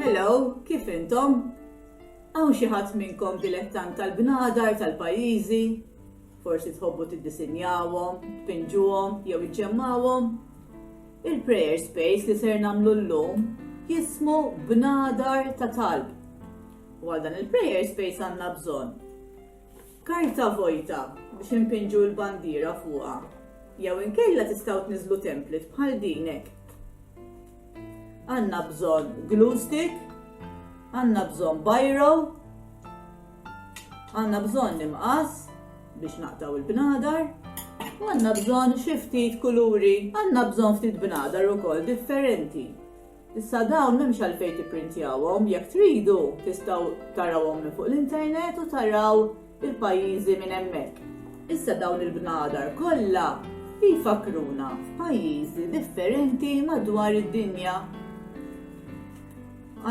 Hello, kif intom? Hawn xi ħadd minnkom dilettant tal-bnadar tal-pajjiżi? Forsi tħobbu tiddisinjawhom, tpinġuhom jew iġġemmawhom? Il-prayer space li ser nagħmlu llum jismu bnadar ta' talb. U għal dan il-prayer space għandna bżonn Karta vojta biex inpinġu l-bandiera fuqha jew inkella tistgħu tniżżlu template bħal din hekk. Għandna bżonn glue stick, għandna bżonn biro, għandna bżonn imqas biex naqtaw il-bnadar, għanna bżon xiftit kuluri, għanna bżon ftit bnadar u kol differenti. Issa dawn m'hemmx għalfejn tipprintjawhom, jekk tridu tistgħu tarawhom minn fuq l-internet u taraw il-pajjiżi minn hemmhekk. Issa dawn il-bnadar kollha jfakkruna f'pajjiżi differenti madwar id-dinja.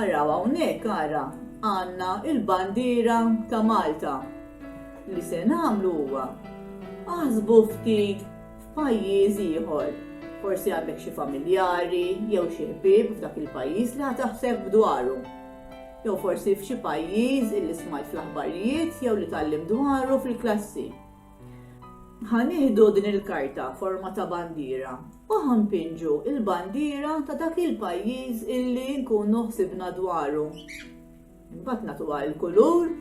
Araw hawnhekk ara għandna l-bandiera ta' Malta. Li se nagħmlu huwa, aħsbu ftit f'pajjiż ieħor. Forsi għandek xi familjari jew xi ħbieb f'dak il-pajjiż li ħa taħseb dwaru. Jew forsi f'xi pajjiż illi smajt fl-aħbarijiet jew li tallim dwaru fil-klassi. Ħa nieħdu din il-karta forma ta' bandiera u ħampinġu il-bandiera ta' dak il-pajjiż illi nkunu ħsibna dwaru. Mbagħad nagħtuha l-kulur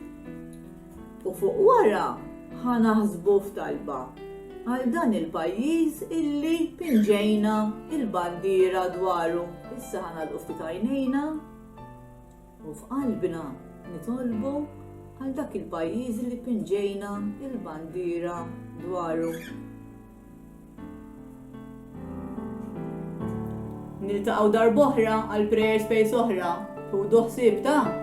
u fuq wara ħa naħsbu f'talba għal dan il-pajjiż illi pinġejna il-bandiera dwaru. Issa ħana l-ufti tajnejna u f'qalbna nitolbu għal dak il-pajjiż li pinġejna il-bandira dwaru. Niltaqgħu darb'oħra għal Prayer Space oħra. Ħudu ħsieb ta'.